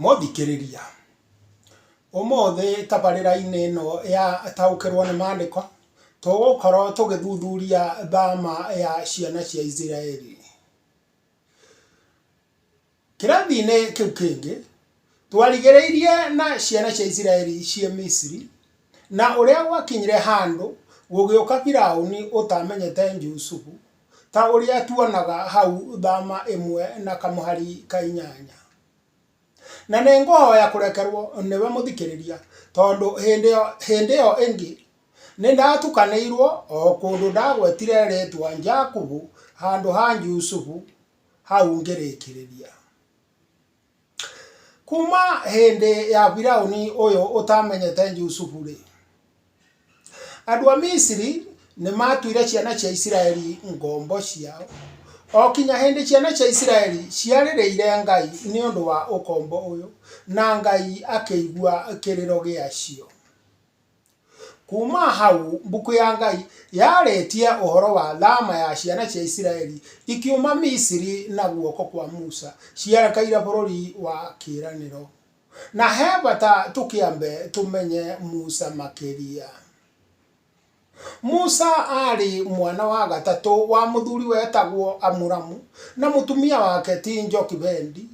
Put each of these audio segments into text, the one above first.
Mothikĩrĩria, ũmũthĩ tabarĩra-inĩ ĩno ya taũkĩrwo nĩ maandĩko, tũgũkorwo tũgĩthuthuria thama ya ciana cia Isiraeli. Kĩrathi-inĩ kĩu kĩngĩ, twarigĩrĩirie na ciana cia Isiraeli ciĩ Misiri, na ũrĩa gwakinyire handũ gũgĩũka Biraũni ũtamenyete Jusufu, Ta ũrĩa tuonaga hau thama ĩmwe na kamũhari ka inyanya. Na nĩ ngũhoya kũrekerwo nĩwe mũthikĩrĩria tondũ hĩndĩ ĩyo ĩngĩ nĩ ndatukanĩirwo o kũndũ ndagwetire rĩtwa Jakubu handũ ha Jusufu hau ngĩrĩkĩrĩria. Kuuma hĩndĩ ya Firauni ũyũ ũtamenyete Jusufu-rĩ, andũ a Misiri nĩ maatuire ciana cia Isiraeli ngombo ciao, o nginya hĩndĩ ciana cia Isiraeli ciarĩrĩire Ngai nĩ ũndũ wa ũkombo ũyũ, na Ngai akĩigua kĩrĩro gĩacio. Kuuma hau mbuku ya Ngai yarĩtie ũhoro wa thama ya ciana cia Isiraeli ikiuma Misiri na guoko kwa Musa cierekeire bũrũri wa kĩĩranĩro. Na he bata tũkĩambe tũmenye Musa makĩria. Musa aarĩ mwana wa gatatũ wa mũthuri wetagwo Amuramu na mũtumia wake ti Jokibendi,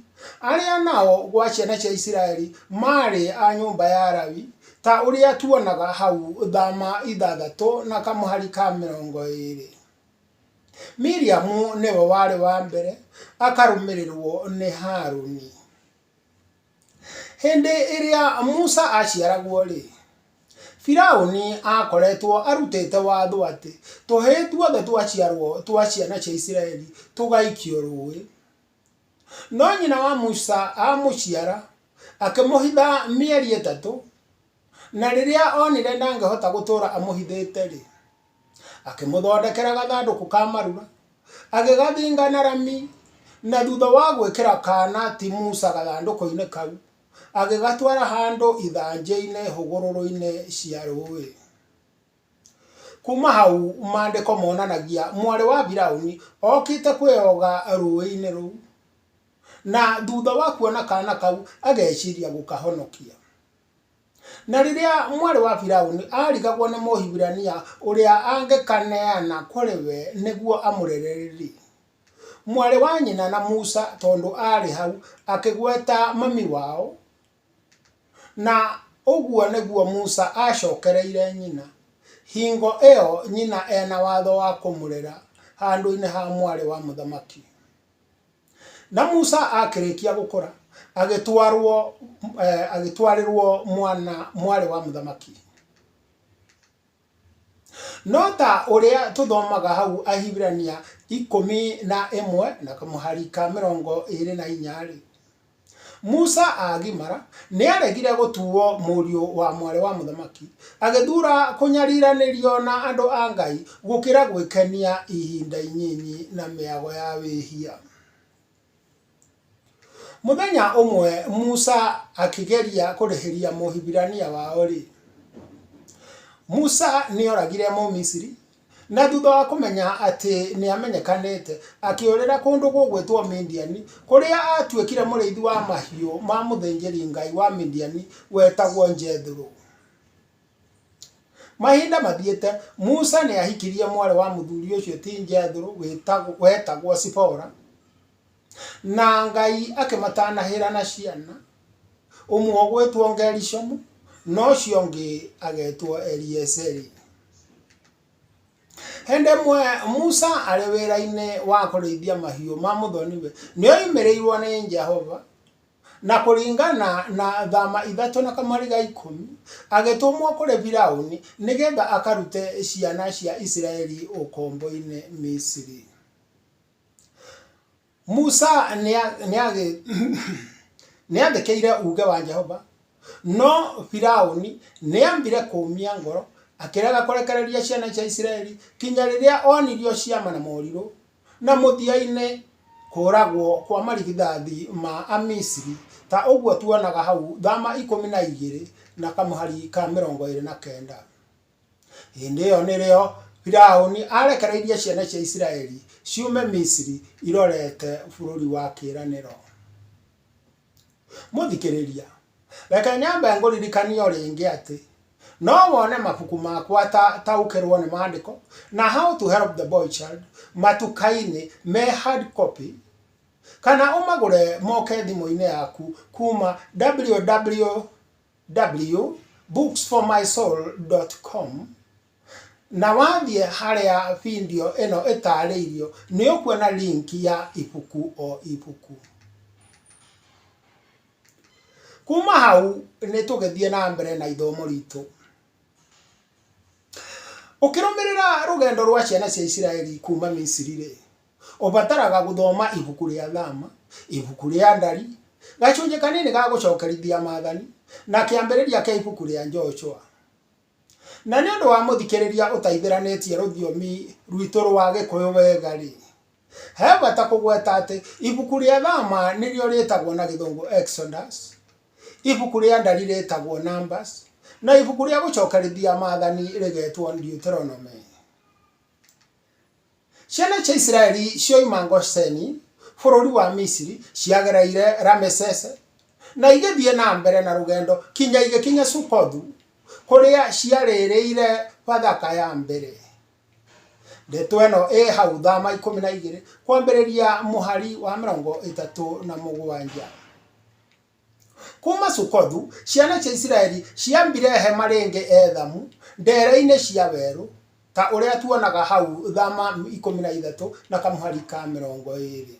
arĩa nao gwa ciana cia Isiraeli maarĩ a nyũmba ya Lawi, Ta ũrĩa tuonaga hau, thama ithathatũ na kamũhari ka mĩrongo ĩĩrĩ. Miriamu nĩwe warĩ wa mbere, akarũmĩrĩrũo nĩ Haruni. Hĩndĩ ĩrĩa Musa aaciaragwo-rĩ, Firauni aakoretwo arutĩte watho atĩ tũhĩĩ tuothe twaciarũo twa ciana cia Isiraeli tũgaikio rũũĩ. No nyina wa Musa aamũciara, akĩmũhitha mĩeri ĩtatũ, na rĩrĩa onire ndangĩhota gũtũũra amũhithĩte-rĩ, akĩmũthondekera gathandũkũ ka marura, agĩgathinga na rami, na thutha wa gwĩkĩra kaana ti Musa gathandũkũ-inĩ kau, agĩgatwara handũ ithanjĩ-inĩ hũgũrũrũ-inĩ cia rũũĩ. Kuuma hau maandĩko monanagia mwarĩ wa Firauni okĩte kwĩyoga rũũĩ-inĩ rũu, na thutha wa kuona kaana kau ageciria gũkahonokia. Na rĩrĩa mwarĩ wa Firauni arigagwo nĩ Mũhibirania ũrĩa angĩkaneana kũrĩ we nĩguo amũrere-rĩ, mwarĩ wa nyina na Musa tondũ aarĩ hau akĩgweta mami wao, Na ũguo nĩguo Musa aacokereire nyina, hingo ĩyo nyina e na watho wa kũmũrera handũ-inĩ ha mwarĩ wa mũthamaki. Na Musa akĩrĩkia gũkũra, agĩtwarwo, eh, agĩtwarĩrwo mwana, mwarĩ wa mũthamaki. No ta ũrĩa tũthomaga hau Ahibirania ikũmi na ĩmwe na kamũhari ka mĩrongo ĩĩrĩ na inya-rĩ, Musa aagimara, nĩaregire gũtuwo mũriũ wa mwarĩ wa mũthamaki, agĩthura kũnyariiranĩrio na andũ a Ngai gũkĩra gwĩkenia ihinda inyinyi na mĩago ya wĩhia. Mũthenya ũmwe Musa akĩgeria kũrĩhĩria Mũhibirania wao-rĩ, Musa nĩ oragire Mũmisiri, na thutha wa kũmenya atĩ nĩ amenyekanĩte, akĩũrĩra kũndũ gũgwĩtwo Midiani, kũrĩa aatuĩkire mũrĩithi wa mahiũ ma mũthĩnjĩri Ngai wa Midiani wetagwo Jethero. Mahinda mathiĩte, Musa nĩ ahikirie mwarĩ wa mũthuri ũcio ti Jethero wetagwo Zipora. Na Ngai akĩmatanahĩra na ciana, ũmwe ũgwĩtwo Gerishomu, na ũcio ũngĩ agetwo Eliezeri. Hĩndĩ ĩmwe Musa arĩ wĩra-inĩ wa kũrĩithia mahiũ ma mũthoniwe, nĩ oimĩrĩirwo nĩ Jehova, na kũringana na thama ithatũ na kamariga ikũmi, agĩtũmwo kũrĩ Firaũni, nĩgetha akarute ciana cia Isiraeli ũkombo-inĩ Misiri. Musa nĩ aathĩkĩire uuge wa Jehova, no Firauni nĩ aambire kũũmia ngoro, akĩrega kũrekereria ciana cia Isiraeli nginya rĩrĩa oonirio ciama na morirũ, na mũthia-inĩ kũũragwo kwa marigithathi ma Amisiri, ta ũguo tuonaga hau, Thama ikũmi na igĩrĩ na kamũhari ka mĩrongo ĩrĩ na kenda. Hĩndĩ ĩyo nĩrĩo Firaũni aarekereirie ciana cia Isiraeli ciume Misiri irorete bũrũri wa kĩĩranĩro. Mũthikĩrĩria, reke nyambe ngũririkanie o rĩngĩ atĩ no wone mabuku makwa ta Taũkĩrũo nĩ Maandĩko na How to Help the Boy Child matuka-inĩ me hard copy kana ũmagũre moke thimũ-inĩ yaku kuuma www. www.booksformysoul.com na wathiĩ harĩa video ĩno ĩtaarĩirio, nĩ ũkuona link ya ibuku o ibuku. Kuma hau nĩ tũgĩthiĩ na mbere na ithomo ritũ. Ũkĩrũmĩrĩra rũgendo rwa ciana cia Isiraeli kuma Misiri-rĩ, Ũbataraga gũthoma ibuku rĩa Thama, ibuku rĩa Ndari, gacunjĩ kanini ga Gũcokerithia Maathani, na kĩambĩrĩria kĩa ibuku rĩa Joshua. Na nĩ ũndũ wa mũthikĩrĩria ũtaithĩranĩtie rũthiomi rwitũ rwa Gĩkũyũ wega-rĩ, he bata kũgweta atĩ ibuku rĩa Thama nĩrĩo rĩtagwo na Gĩthũngũ Exodus, ibuku rĩa Ndari rĩtagwo Numbers, na ibuku rĩa Gũcokerithia Maathani rĩgetwo Deuteronomy. Ciana cia Isiraeli cioima Gosheni bũrũri wa Misiri ciagereire Ramesese na igĩthiĩ na mbere na rũgendo kinya igĩkinya Sukothu kũrĩa ciarĩrĩire Bathaka ya mbere. Ndeto ĩno ĩ hau Thama ikũmi na igĩrĩ kwambĩrĩria mũhari wa mĩrongo ĩtatũ na mũgwanja. Kuuma Sukothu, ciana cia Isiraeli ciambire hema rĩngĩ Ethamu, ndeere-inĩ cia werũ, ta ũrĩa tuonaga hau, Thama 13 na kamũhari ka 20.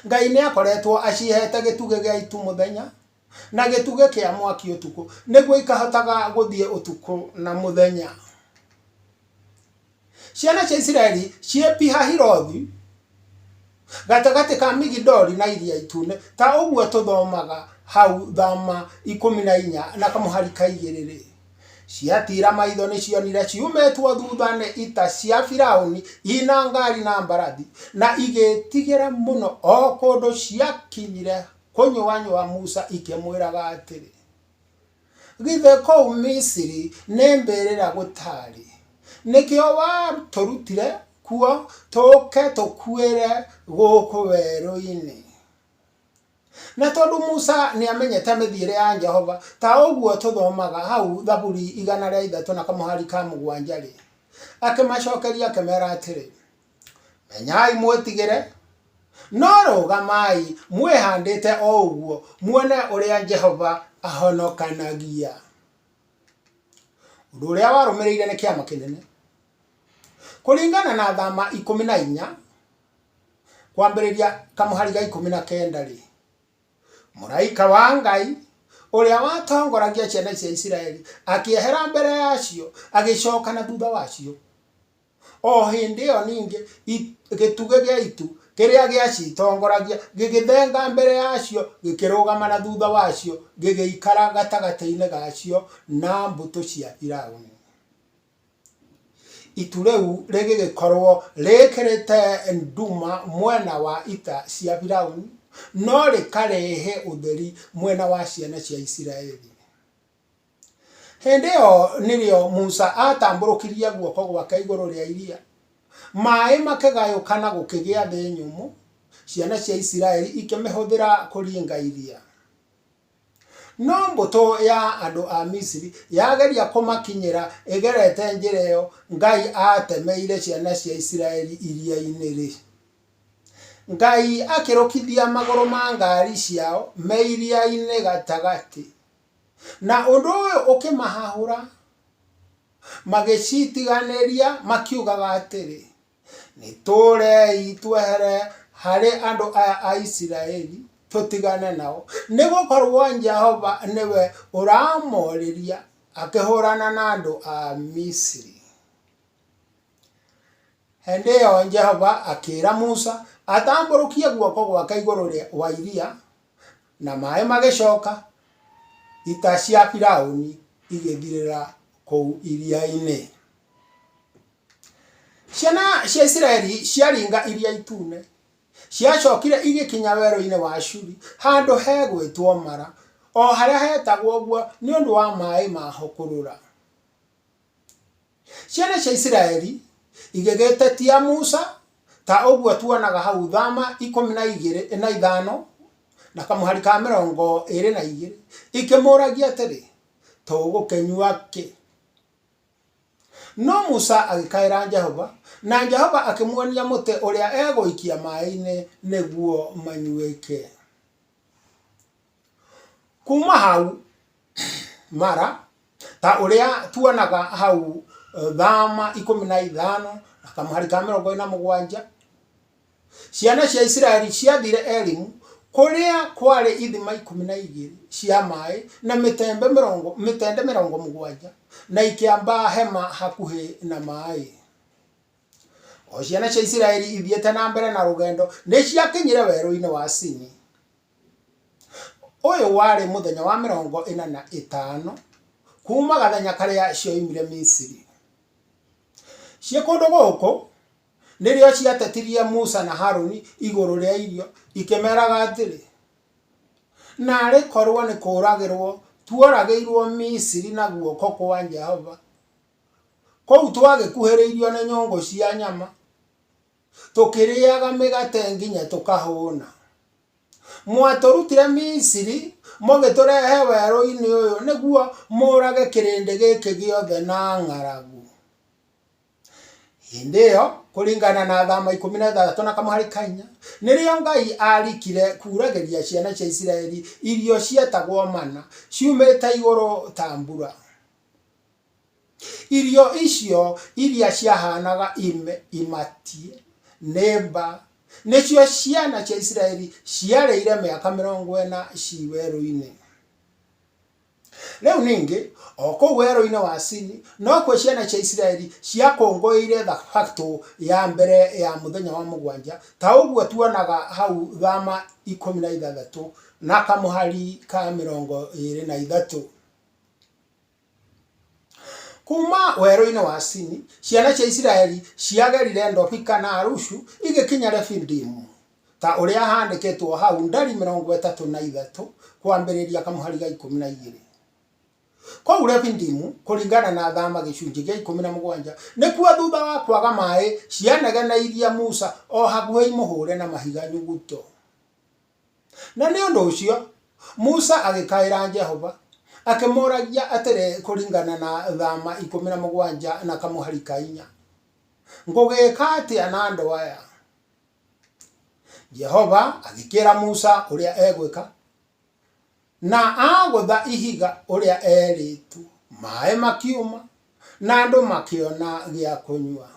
Ngai nĩ aakoretwo aciheete gĩtugĩ gĩa itu mũthenya, na gĩtugĩ kĩa mwaki ũtukũ, nĩguo ikahotaga gũthiĩ ũtukũ na mũthenya. Ciana cia Isiraeli ciĩ Pihahirothu gatagatĩ ka Migidoli na Iria Itune, ta ũguo tũthomaga hau thama ikũmi na inya na kamũhari ka igĩrĩ-rĩ, ciatiira maitho nĩcionire ciumĩtwo thutha nĩ ita cia Firaũni ina ngaari na mbarathi, na igĩĩtigĩra mũno, o kũndũ ciakinyire kũnyũanyũa Musa ikĩmwĩraga atĩrĩ, Githĩ kũu Misiri nĩ mbĩrĩra gũtaarĩ? Nĩkĩo watũrutire kuo tũũke tũkuĩre gũkũ werũ-inĩ. Na tondũ Musa nĩ amenyete mĩthiĩre ya Jehova, ta ũguo tũthomaga hau Thaburi igana rĩa ithatũ na kamũhari ka mũgwanja-rĩ, akĩmacokeria akĩmera atĩrĩ, menyai mwĩtigĩre no rũgamai mwĩhandĩte o ũguo muone ũrĩa jehova ahonokanagia ũndũ ũrĩa warũmĩrĩire nĩ kĩama kĩnene kũringana na thama ikũmi na inya kwambĩrĩria kamũhari ga ikũmi na kenda rĩ mũraika wa ngai ũrĩa watongoragia ciana cia isiraeli akĩehera mbere yacio agĩcoka na thutha wacio O hĩndĩ ĩyo ningĩ i- gĩtugĩ gĩa itu kĩrĩa gĩacitongoragia gĩgĩthenga mbere yacio, gĩkĩrũgama na thutha wacio, gĩgĩikara gatagatĩ-inĩ gacio na mbũtũ cia Firaũni. Itu rĩu rĩgĩgĩkorwo rĩkĩrĩte nduma mwena wa ita cia Firaũni, no rĩkarehe ũtheri mwena wa ciana cia Isiraeli. Hĩndĩ ĩyo nĩrĩo Musa aatambũrũkirie guoko gwake igũrũ rĩa iria, maĩ makĩgayũkana gũkĩgĩa thĩ nyũmũ, ciana cia Isiraeli ikĩmĩhũthĩra kũringa iria. No mbũtũ ya andũ a Misiri yageria kũmakinyĩra ĩgerete njĩra ĩyo Ngai aatemeire ciana cia Isiraeli iria-inĩ-rĩ, Ngai akĩrũkithia magũrũ ma ngaari ciao me iria-inĩ gatagatĩ. Na ũndũ ũyũ ũkĩmahahũra, magĩcitiganĩria, makiugaga atĩrĩ, nĩtũũrei twehere harĩ andũ aya a Isiraeli, tũtigane nao, nĩ gũkorwo Jehova nĩwe ũramorĩria akĩhũrana na andũ a Misiri. Hĩndĩ ĩyo Jehova akĩĩra Musa atambũrũkie guoko gwake igũrũ wa iria, Na maaĩ magĩcooka, ita cia Firaũni igĩthirĩra kũu iria-inĩ. Ciana cia Isiraeli ciaringa iria itune, ciacookire igĩkinya werũ-inĩ wa Shuri, handũ hegwĩtwo Mara, o harĩa heetagwo ũguo nĩ ũndũ wa maaĩ ma ho kũrũra. Ciana cia Isiraeli igĩgĩtetia Musa, ta ũguo tuonaga hau thama ikũmi na igĩrĩ na ithano na kamũhari ka mĩrongo ĩrĩ na igĩrĩ ikĩmũragia atĩrĩ, tũgũkĩnyua kĩ? No Musa agĩkaĩra Jehova, na Jehova akĩmuonia mũtĩ ũrĩa egũikia maĩ-inĩ nĩguo manyuĩke. Kuma hau mara ta ũrĩa tuonaga hau thama ikũmi na ithano na kamũhari ka mĩrongo ĩrĩ na mũgwanja, ciana cia Isiraeli ciathire Elimu kũrĩa kwarĩ ithima ikũmi na igĩrĩ cia maĩ na mĩtembe mĩrongo mĩtende mĩrongo mũgwanja na ikĩamba hema hakuhĩ na maĩ. O ciana cia Isiraeli ithiĩte na mbere na rũgendo nĩciakinyire werũ-inĩ wa Sini. Ũyũ warĩ mũthenya wa mĩrongo ĩna na ĩtano kuuma gathenya karĩa cioimire Misiri. Ciĩ kũndũ gũkũ nĩrĩo ciatetirie Musa na Haruni igũrũ rĩa irio ikĩmeraga atĩrĩ, Naarĩ korwo nĩ kũũragĩrwo tuoragĩirwo Misiri na guoko kwa Jehova, kũu twagĩkuhĩrĩirio nĩ nyũngũ cia nyama, tũkĩrĩaga mĩgate nginya tũkahũna. Mwatũrutire Misiri, mũgĩtũrehe werũ-inĩ ũyũ nĩguo mũũrage kĩrĩndĩ gĩkĩ gĩothe na ng'aragu. Hĩndĩ ĩyo, kũringana na Athama ikũmi na ithathatũ na kamũhari ka inya, nĩrĩo Ngai aarikire kuuragĩria ciana cia Isiraeli irio cietagwo mana ciumĩte igũrũ ta mbura. Irio icio iria ciahaanaga imatie nĩ mba, nĩcio ciana cia Isiraeli ciarĩire mĩaka mĩrongo ĩna ci werũ-inĩ. Rĩu ningĩ, o kũu werũ-inĩ wa Sini, nokuo ciana cia Isiraeli ciakũngũĩire thabatũ ya mbere ya mũthenya wa mũgwanja, ta ũguo tuonaga hau thama ikũmi na ithathatũ na kamũhari ka mĩrongo ĩrĩ na ithatũ. Kuuma werũ-inĩ wa Sini, ciana cia Isiraeli ciagerire Dofika na Alushu, igĩkinya Refidimu, ta ũrĩa handĩkĩtwo hau, Ndari mĩrongo ĩtatũ na ithatũ, kwambĩrĩria kamũhari ga ikũmi na igĩrĩ. Kũu Refidimu, kũringana na Thama gĩcunjĩ gĩa ikũmi na mũgwanja, nĩkuo thutha wa kwaga maĩ, cianegeneirie Musa o hakuhĩ imũhũre na mahiga nyuguto. Na nĩ ũndũ ũcio Musa agĩkaĩra Jehova, akĩmũũragia atĩrĩ kũringana na thama ikũmi na mũgwanja na kamũhari ka inya, Ngũgĩĩka atĩa na andũ aya? Jehova agĩkĩĩra Musa ũrĩa egwĩka, na aagũtha ihiga ũrĩa eerĩtwo, maaĩ makiuma, na andũ makĩona gĩa kũnyua.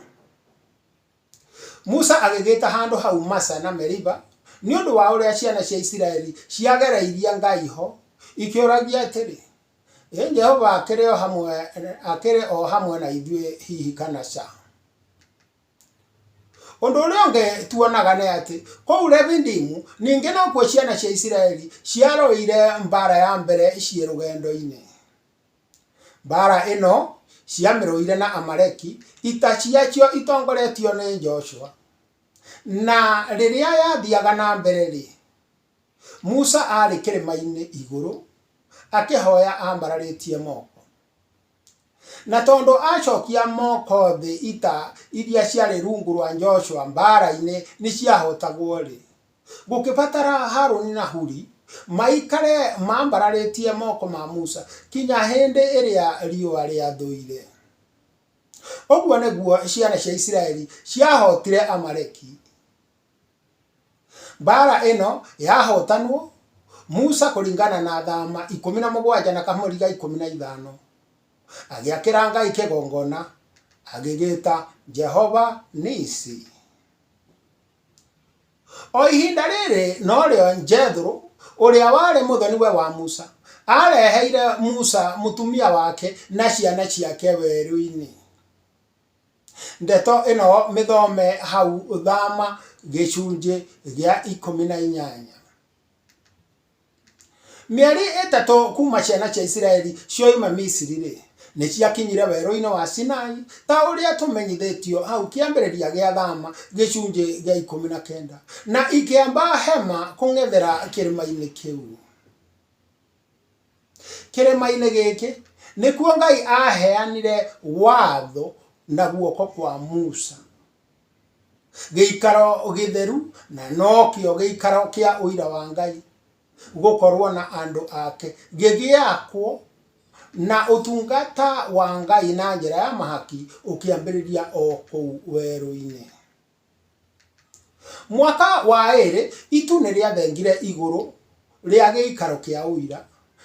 Musa agĩgĩta handũ hau Masa na Meriba, nĩ ũndũ wa ũrĩa ciana cia Isiraeli ciagereirie Ngai ho, ikĩũragia atĩrĩ, Ĩ Jehova akĩrĩ o hamwe, akĩrĩ o hamwe na ithuĩ hihi kana ca? Ũndũ ũrĩa ũngĩ tuonaga nĩ atĩ kũu Refidimu ningĩ nokuo ciana cia Isiraeli ciarũire mbaara ya mbere ciĩ rũgendo-inĩ. Mbaara ĩno ciamĩrũire na Amaleki, ita ciacio itongoretio nĩ Joshua. Na rĩrĩa yathiaga na mbere-rĩ, Musa aarĩ kĩrĩma-inĩ igũrũ akĩhoya ambararĩtie moko. Na tondũ acokia moko thĩ ita iria ciarĩ rungu rwa Joshua mbaara-inĩ nĩciahotagwo-rĩ, Gũkĩbatara Harũni na Huri maikare mambararĩtie moko ma Musa kinya hĩndĩ ĩrĩa riũa rĩathũire. Ũguo nĩguo ciana cia Isiraeli ciahootire Amaleki. Mbaara ĩno yahootanwo, Musa kũringana na Thaama ikũmi na mũgwanja na kamũri ga ikũmi na ithano, agĩakĩra Ngai kĩgongona, agĩgĩĩta Jehova-Nisi. O ihinda rĩrĩ no rĩo Jethero, ũrĩa warĩ mũthoni-we wa Musa, aareheire Musa mũtumia wake na ciana ciake werũ-inĩ. Ndeto ĩno mĩthome hau thama gĩcunjĩ gĩa ikũmi na inyanya. Mĩeri ĩtatũ kuuma ciana cia Isiraeli cioima Misiri-rĩ, nĩ ciakinyire werũ-inĩ wa Sinai, ta ũrĩa tũmenyithĩtio hau kĩambĩrĩria gĩa Thama gĩcunjĩ gĩa ikũmi na kenda, na ikĩamba hema kũng'ethera kĩrĩma-inĩ kĩu. Kĩrĩma-inĩ gĩkĩ nĩkuo Ngai aaheanire watho na guoko kwa Musa. Gĩikaro gĩtheru, na nokĩo gĩikaro kĩa ũira wa Ngai gũkorwo na andũ ake, gĩgĩakwo na ũtungata wa Ngai na njĩra ya mahaki ũkĩambĩrĩria o kũu werũ-inĩ. Mwaka wa ĩrĩ, itu nĩrĩathengire igũrũ. rĩa gĩikaro kĩa ũira,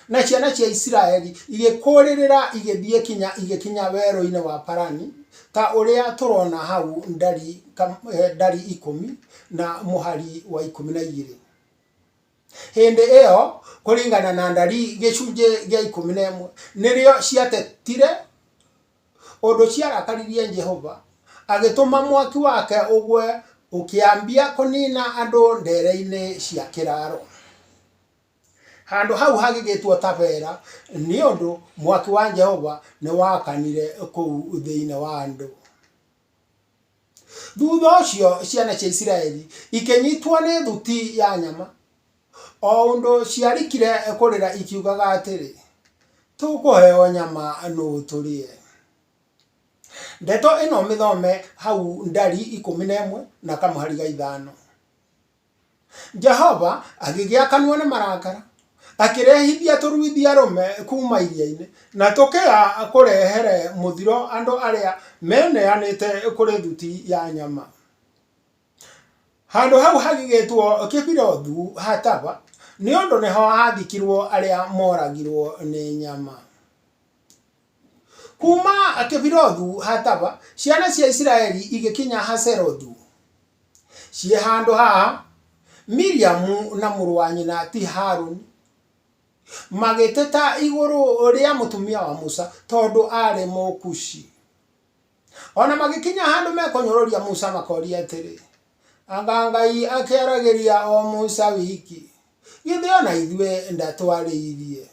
na ciana cia Isiraeli igĩkũrĩrĩra igĩthiĩ kinya igĩkinya werũ-inĩ wa Parani, ta ũrĩa tũrona hau ndari, eh, ndari ikũmi na mũhari wa ikũmi na igĩrĩ hĩndĩ ĩyo kũringana na ndari gĩcunjĩ gĩa ikũmi na ĩmwe nĩrĩo ciatetire ũndũ ciarakaririe Jehova, agĩtũma mwaki wake ũgwe ũkĩambia kũniina andũ ndeere-inĩ cia kĩraaro. Handũ hau hagĩgĩtwo Tabera, nĩ ũndũ mwaki wa Jehova nĩ wakanire kũu thĩinĩ wa andũ. Thutha ũcio ciana cia Isiraeli ikĩnyitwo nĩ thuti ya nyama, O ũndũ ciarikire kũrĩra ikiugaga atĩrĩ, Tũkũheo nyama nũũ tũrĩe? Ndeto ĩno mĩthome hau Ndari ikũmi na ĩmwe na kamũhari ga ithano. Jehova agĩgĩa kanua nĩ marakara, akĩrehithia tũruithia-rũme kuuma iria-inĩ, na tũkĩa kũrehere mũthiro andũ arĩa meneanĩte kũrĩ thuti ya nyama. Handũ hau hagĩgĩtwo Kibirothu-Hataava, nĩ ũndũ nĩho haathikirũo arĩa mooragirũo nĩ nyama. Kuuma Kibirothu-Hataava, ciana cia Isiraeli igĩkinya Hazerothu. Ciĩ handũ haha, Miriamu na mũrũ wa nyina, ti Haruni, magĩteta igũrũ rĩa mũtumia wa Musa tondũ aarĩ Mũkushi. O na magĩkinya handũ mekũnyũrũria Musa makoria atĩrĩ, Anga Ngai akĩaragĩria o Musa wiki? Githĩ o na ithuĩ ndatwarĩirie?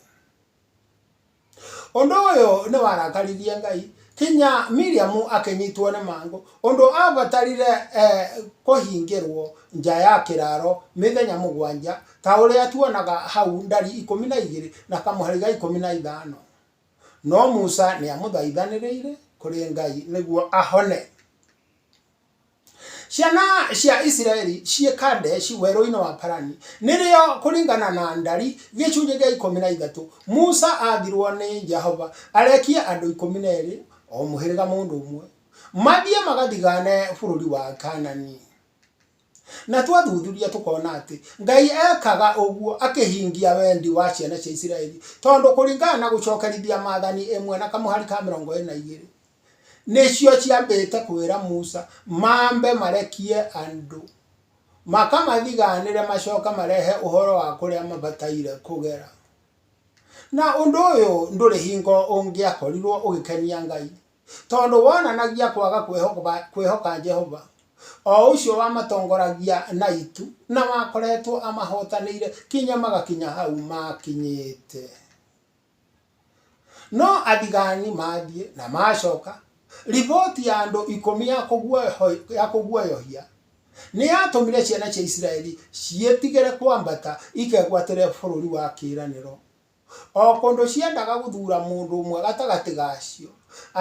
Ũndũ ũyũ nĩ warakaririe Ngai, kinya Miriamu akĩnyitwo nĩ mangũ, ũndũ aabatarire eh, kũhingĩrwo nja ya kĩraaro mĩthenya mũgwanja, ta ũrĩa tuonaga hau ndari ikũmi na igĩrĩ na kamũhari ga ikũmi na ithano. No Musa nĩamũthaithanĩrĩire kũrĩ Ngai nĩguo ahone. Ciana cia Isiraeli ciĩ Kadeshi werũ-inĩ wa Parani, nĩrĩo kũringana na Ndari gĩcunjĩ gĩa ikũmi na ithatũ, Musa athirwo nĩ Jehova arekie andũ ikũmi na erĩ, o mũhĩrĩga mũndũ ũmwe, mathiĩ magathigaane bũrũri wa Kaanani. Na twathuthuria tũkona atĩ Ngai ekaga ũguo akĩhingia wendi wa ciana cia Isiraeli tondũ kũringana na gũcokerithia Maathani ĩmwe na kamũhari ka mĩrongo ĩna igĩrĩ, nĩcio ciambĩte kwĩra Musa mambe marekie andũ, makamathigaanĩre macoke marehe ũhoro wa kũrĩa mabataire kũgera. Na ũndũ ũyũ ndũrĩ hingo ũngĩakorirũo ũgĩkenia Ngai. tondũ wonanagia kwaga kwĩhoka Jehova, o ũcio wamatongoragia na itu na wakoretwo amahotanĩire kinya magakinya hau maakinyĩte. No athigaani maathiĩ na maacoka, riboti ya andũ ikũmi ya kũguoyohia nĩ yatũmire ciana cia Isiraeli ciĩtigĩre kwambata ikegwatĩre Bũrũri wa Kĩĩranĩro. O kũndũ ciendaga gũthuura mũndũ ũmwe gatagatĩ gacio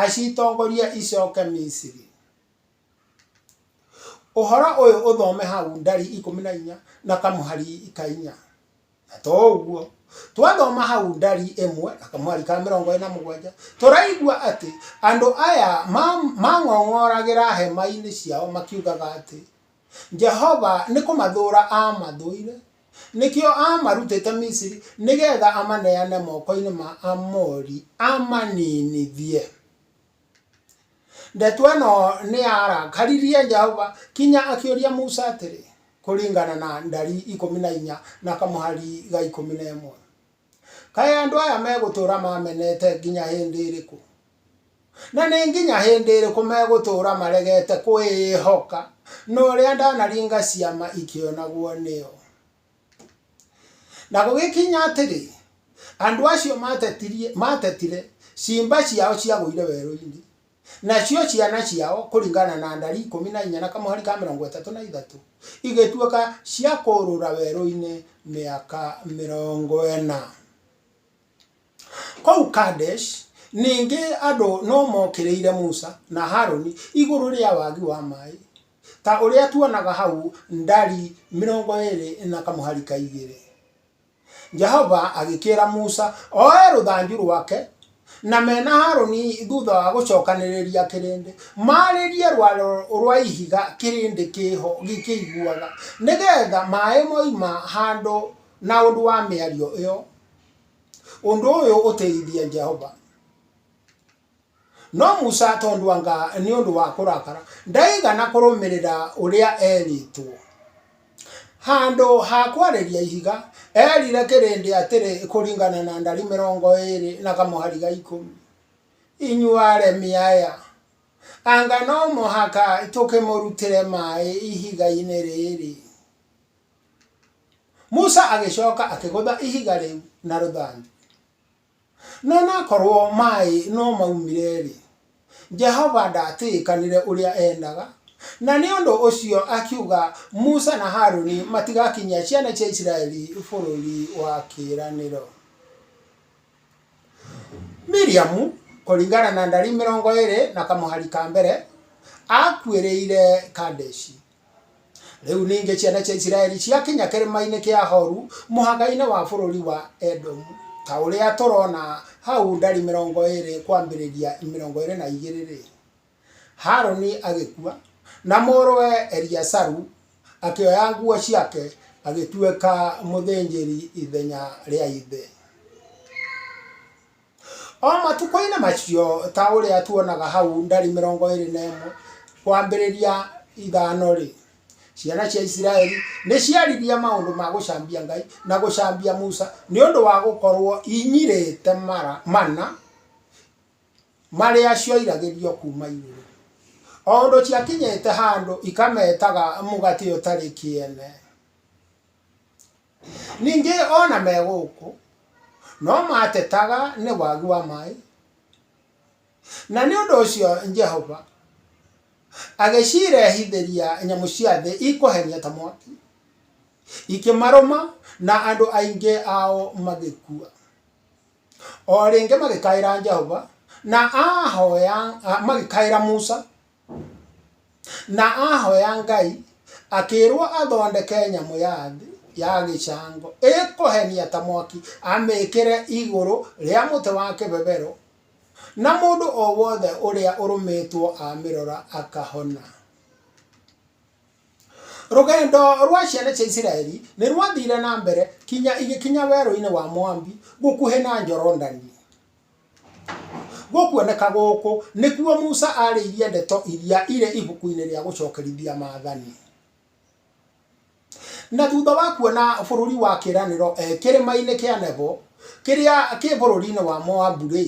acitongorie icoke Misiri. Ũhoro ũyũ ũthome hau Ndari ikũmi na inya na kamũhari ka inya. Na to ũguo, twathoma hau Ndari ĩmwe na kamũhari ka mĩrongo ĩna mũgwanja, tũraigua atĩ andũ aya mang'ong'oragĩra hema-inĩ ciao makiugaga atĩ, Jehova nĩ kũmathũũra aamathũire, Nĩkĩo aamarutĩte Misiri, nĩ geetha amaneane moko-inĩ ma Aamori, amaniinithie. Ndeto ĩno nĩyarakaririe Jehova kinya akĩũria Musa atĩrĩ, kũringana na Ndari ikũmi na inya na kamũhari ga ikũmi na ĩmwe. Kaĩ andũ aya megũtũũra mamenete nginya hĩndĩ ĩrĩkũ? Na nĩ nginya hĩndĩ ĩrĩkũ megũtũũra maregete kwĩĩhoka na ũrĩa ndanaringa ciama ikĩonagwo nĩo? Na gũgĩkinya atĩrĩ, andũ acio maatetire ciimba ciao ciagũire werũ-inĩ, Nacio ciana ciao, kũringana na ndari ikũmi na inya na kamũhari ka mĩrongo ĩtatũ na ithatũ, igĩtuĩka cia kũũrũra werũ-inĩ mĩaka mĩrongo ĩna. Kũu Kadeshi, ningĩ andũ no mookĩrĩire Musa na Harũni igũrũ rĩa wagi wa maĩ, ta ũrĩa tuonaga hau ndari mĩrongo ĩĩrĩ na kamũhari ka igĩrĩ. Jehova agĩkĩĩra Musa oe rũthanju rwake na me na Harũni thutha wa gũcokanĩrĩria kĩrĩndĩ, maarĩrie rwaro rwa ihiga kĩrĩndĩ kĩho gĩkĩiguaga, nĩgetha maaĩ moima handũ na ũndũ wa mĩario ĩyo. Ũndũ ũyũ ũteithia Jehova. No Musa, tondũ anga nĩ ũndũ wa kũrakara, ndaigana kũrũmĩrĩra ũrĩa eerĩtwo. Handũ ha kwarĩria ihiga, eerire kĩrĩndĩ atĩrĩ kũringana na ndari mĩrongo ĩĩrĩ na kamũhari ga ikũmi, inyuĩ aremi aya, anga no mũhaka tũkĩmũrutĩre maaĩ ihiga-inĩ rĩrĩ? Musa agĩcoka akĩgũtha ihiga rĩu na rũthanju. No nakorũo maĩ no maumire-rĩ, Jehova ndaatĩĩkanire ũrĩa eendaga, na nĩ ũndũ ũcio akiuga Musa na Haruni matigakinyia ciana cia Isiraeli Bũrũri wa Kĩĩranĩro. Miriamu, kũringana na Ndari mĩrongo ĩĩrĩ na kamũhari ka mbere, aakuĩrĩire Kadeshi. Rĩu ningĩ ciana cia Isiraeli ciakinya kĩrĩma-inĩ kĩa Horu mũhaka-inĩ wa bũrũri wa Edomu, ta ũrĩa tũrona hau ndari mĩrongo ĩrĩ kwambĩrĩria mĩrongo ĩrĩ na igĩrĩ-rĩ, Harũni agĩkua, na mũrũwe Eliasaru akĩoya nguo ciake agĩtuĩka mũthĩnjĩri ithenya rĩa ithe. O matukũ-inĩ macio, ta ũrĩa tuonaga hau ndari mĩrongo ĩrĩ na ĩmwe kwambĩrĩria ithano-rĩ, ciana cia Isiraeli nĩ ciaririe maũndũ ma gũcambia Ngai na gũcambia Musa nĩ ũndũ wa gũkorũo inyirĩte mana marĩa cioiragĩrio kuuma igũrũ. O ũndũ ciakinyĩte handũ ikametaga mũgate ũtarĩ kĩene. Ningĩ o na me gũkũ no maatetaga nĩ wagi wa maĩ, na nĩ ũndũ ũcio Jehova agĩcirehithĩria nyamũ cia thĩ ikũhenia ta mwaki, ikĩmarũma na andũ aingĩ ao magĩkua. O rĩngĩ magĩkaĩra Jehova na ahoya, magĩkaĩra Musa. Na ahoya Ngai, akĩĩrwo athondeke nyamũ ya thĩ ya gĩcango ĩkũhenia ta mwaki, amĩĩkĩre igũrũ rĩa mũtĩ wa kĩbebero, na mũndũ o wothe ũrĩa ũrũmĩtwo amĩrora akahona. Rũgendo rwa ciana cia Isiraeli nĩ rwathiire na mbere kinya igĩkinya werũ-inĩ wa Moabi gũkuhĩ na Jorodani. Gũkuoneka gũkũ nĩkuo Musa arĩirie ndeto iria irĩ ibuku-inĩ rĩa gũcokerithia maathani. Na thutha wa kuona bũrũri wa kĩĩranĩro e kĩrĩma-inĩ kĩa Nebo, kĩrĩa kĩ bũrũri-inĩ wa Moabu-rĩ,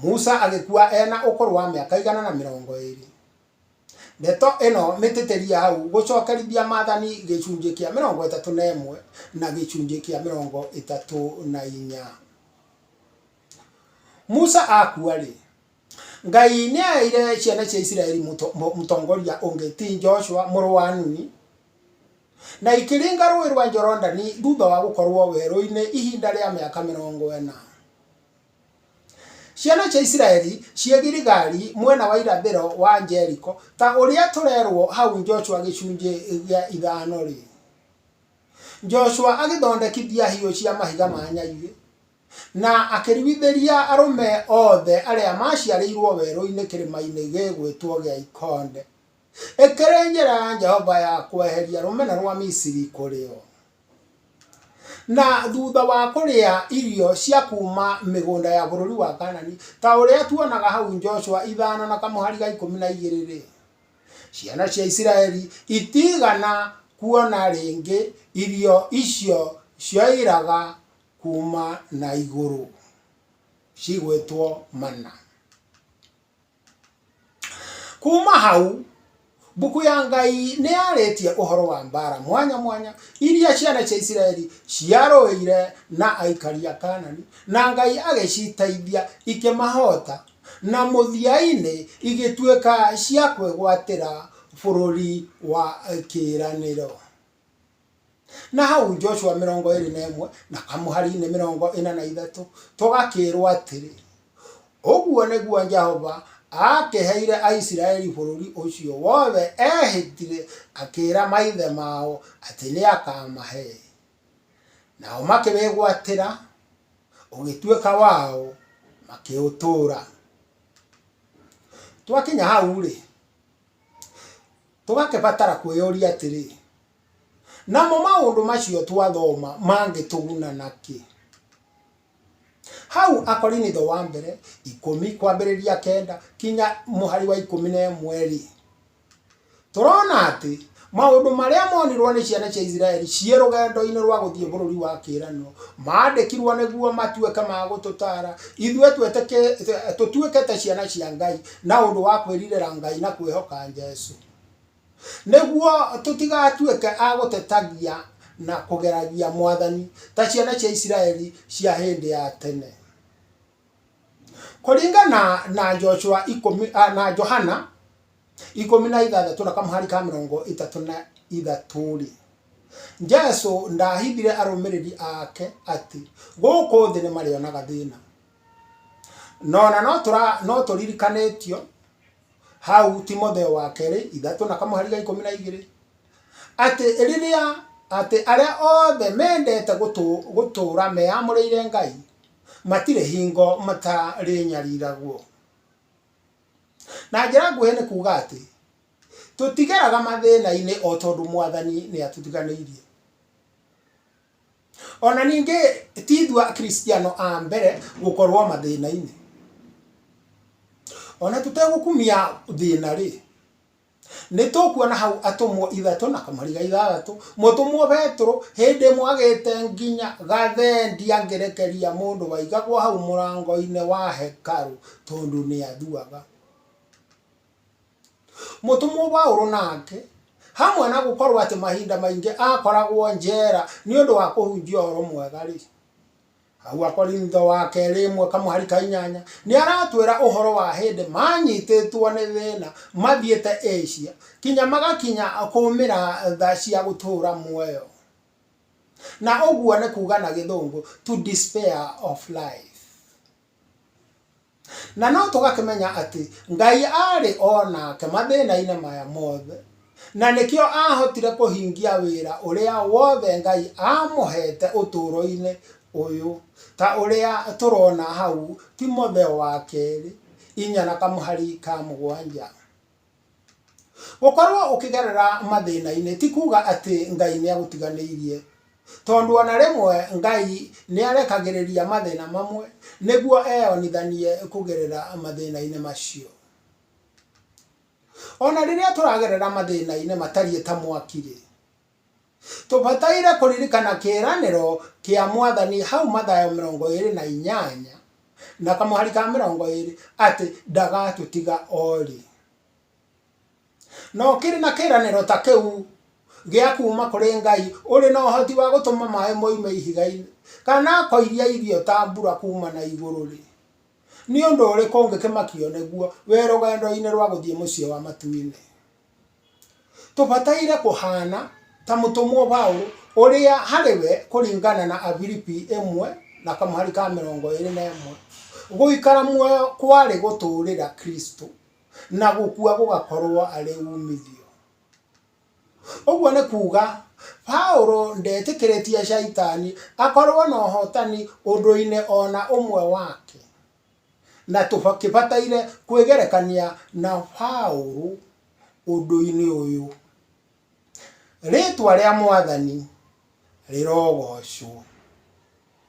Musa agĩkua e na ũkũrũ wa mĩaka igana na mĩrongo ĩĩrĩ. Ndeto ĩno mĩtĩtĩrie hau gũcokerithia maathani gĩcunjĩ kĩa mĩrongo ĩtatũ na ĩmwe na gĩcunjĩ kĩa mĩrongo ĩtatũ na inya. Musa akua-rĩ, Ngai nĩaheire ciana cia Isiraeli mũtongoria ũngĩ ti Joshua mũrũ wa Nuni, na ikĩringa rũĩ rwa Jorodani thutha wa gũkorwo werũ-inĩ ihinda rĩa mĩaka mĩrongo ĩna. Ciana cia Isiraeli ciĩ Giligali mwena wa irathĩro wa Jeriko, ta ũrĩa tũrerwo hau Joshua gĩcunjĩ gĩa ithano rĩ. Joshua agĩthondekithia hiũ cia mahiga ma nyaigĩ, na akĩruithĩria arũme othe arĩa maaciarĩirwo werũ-inĩ kĩrĩma-inĩ gĩgwĩtwo gĩa Ikonde. Ĩkĩrĩ njĩra ya Jehova ya kweheria rũmena rwa Misiri kũrĩ o. Na thutha wa kũrĩa irio cia kuuma mĩgũnda ya bũrũri wa Kanani, ta ũrĩa tuonaga hau Joshua ithano na kamũhari ga ikũmi na igĩrĩ-rĩ, ciana cia Isiraeli itiigana kuona rĩngĩ irio icio cioiraga kuuma na igũrũ, cigwĩtwo mana. Kuuma hau, mbuku ya Ngai nĩ yarĩtie ũhoro wa mbaara mwanya mwanya iria ciana cia Isiraeli ciarũĩire na aikari a Kaanani, na Ngai agĩciteithia ikĩmahoota, na mũthia-inĩ igĩtuĩka cia kwĩgwatĩra Bũrũri wa Kĩĩranĩro. Na hau Joshua mĩrongo ĩĩrĩ na ĩmwe na Amuhari-inĩ mĩrongo ĩna na ithatũ, tũgakĩĩrwo atĩrĩ, Ũguo nĩguo Jehova aakĩheire Aisiraeli bũrũri ũcio wothe eehĩtire akĩĩra maithe mao atĩ nĩ akaamahe. Nao makĩwĩgwatĩra, ũgĩtuĩka wao, makĩũtũũra. Twakinya hau-rĩ, tũgakĩbatara kwĩyũria atĩrĩ, Namo maũndũ macio twathoma mangĩtũguna na kĩ? Hau Akorinitho wa mbere ikũmi kwambĩrĩria kenda kinya mũhari wa ikũmi na ĩmwe-rĩ, tũrona atĩ maũndũ marĩa monirwo nĩ ciana cia Isiraeli ciĩ rũgendo-inĩ rwa gũthiĩ bũrũri wa kĩĩranĩro maandĩkirwo nĩguo matuĩke ma gũtũtaara ithuĩ tũtuĩke ta ciana cia Ngai na ũndũ wa kwĩrirĩra Ngai na kwĩhoka Jesu. Nĩguo tũtigatuĩke a gũtetagia na kũgeragia Mwathani ta ciana cia Isiraeli cia hĩndĩ ya tene. Kũringana na Joshua ikũmi, ah, na Johana ikũmi na ithathatũ na kamũhari ka mĩrongo ĩtatũ na ithatũ-rĩ, Jesu ndahithire arũmĩrĩri ake atĩ gũkũ thĩ nĩ marĩonaga thĩna. No na no tũra- no tũririkanĩtio hau Timotheo wa kerĩ ithatũ na kamũhari ga ikũmi na igĩrĩ atĩ rĩrĩa atĩ arĩa othe mendete gũtũ, gũtũũra meyamũrĩire ngai matirĩ hingo matarĩnyariragwo na njĩra nguhĩ nĩ kuuga atĩ tũtigeraga mathĩna-inĩ o tondũ mwathani nĩ atũtiganĩirie O na ningĩ ti ithuĩ Akristiano a mbere gũkorũo mathĩna-inĩ. O na tũtegũkumia thĩna-rĩ, nĩ tũkuona hau atũmwo ithatũ na kamariga ithathatũ. Mũtũmwo Petero hĩndĩ ĩmwe agĩte nginya gathendi angĩrekeria mũndũ waigagwo hau mũrango-inĩ wa hekarũ tondũ nĩ athuaga. Mũtũmwo Paulo nake, hamwe na gũkorũo atĩ mahinda maingĩ aakoragwo njera nĩ ũndũ wa kũhunjia ũhoro mwega-rĩ, hau Akorintho wa kerĩ ĩmwe kamwe harĩ ka inyanya, nĩ aratwĩra ũhoro wa hĩndĩ maanyitĩtwo nĩ thĩna mathiĩte Asia kinya magakinya kũũmĩra tha cia gũtũũra muoyo. Na ũguo nĩ kuuga na Gĩthũngũ, to despair of life. Na no tũgakĩmenya atĩ Ngai aarĩ o nake mathĩna-inĩ maya mothe, na nĩkĩo aahotire kũhingia wĩra ũrĩa wothe Ngai aamũheete ũtũũro-inĩ ũyũ, ta ũrĩa tũrona hau Timotheo wa Kerĩ, inya na kamũhari ka mũgwanja. Gũkorũo ũkĩgerera mathĩna-inĩ ti kuuga atĩ Ngai nĩ agũtiganĩirie, tondũ o na rĩmwe Ngai nĩ arekagĩrĩria mathĩna mamwe nĩguo eyonithanie kũgerera mathĩna-inĩ macio. O na rĩrĩa tũragerera mathĩna-inĩ matariĩ ta mwaki-rĩ, Tũbataire kũririkana kĩĩranĩro kĩa Mwathani hau Mathayo mĩrongo ĩĩrĩ na inyanya na kamũhari ka mĩrongo ĩĩrĩ atĩ ndagatũtiga o rĩ. No kĩrĩ na kĩĩranĩro ta kĩu gĩa kuuma kũrĩ Ngai ũrĩ na ũhoti wa gũtũma maĩ moime ihiga-inĩ kana akoiria irio ta mbura kuuma na igũrũ-rĩ, nĩ ũndũ ũrĩkũ ũngĩkĩmakio nĩguo wĩ rũgendo-inĩ rwa gũthiĩ Mũciĩ wa Matu-inĩ? Tũbataire kũhaana ta mũtũmwo Paulo, ũrĩa harĩ we kũringana na Afilipi ĩmwe na kamũhari ka mĩrongo ĩĩrĩ na ĩmwe, gũikara muoyo kwarĩ gũtũũrĩra Kristũ, na gũkua gũgakorũo arĩ uumithio. Ũguo nĩ kuuga, Paulo ndeetĩkĩrĩtie Shaitani akorũo na ũhootani ũndũ-inĩ o na ũmwe wake. Na tũkĩbataire kwĩgerekania na Paũlũ ũndũ-inĩ ũyũ. Rĩtwa rĩa Mwathani rĩrogoocwo.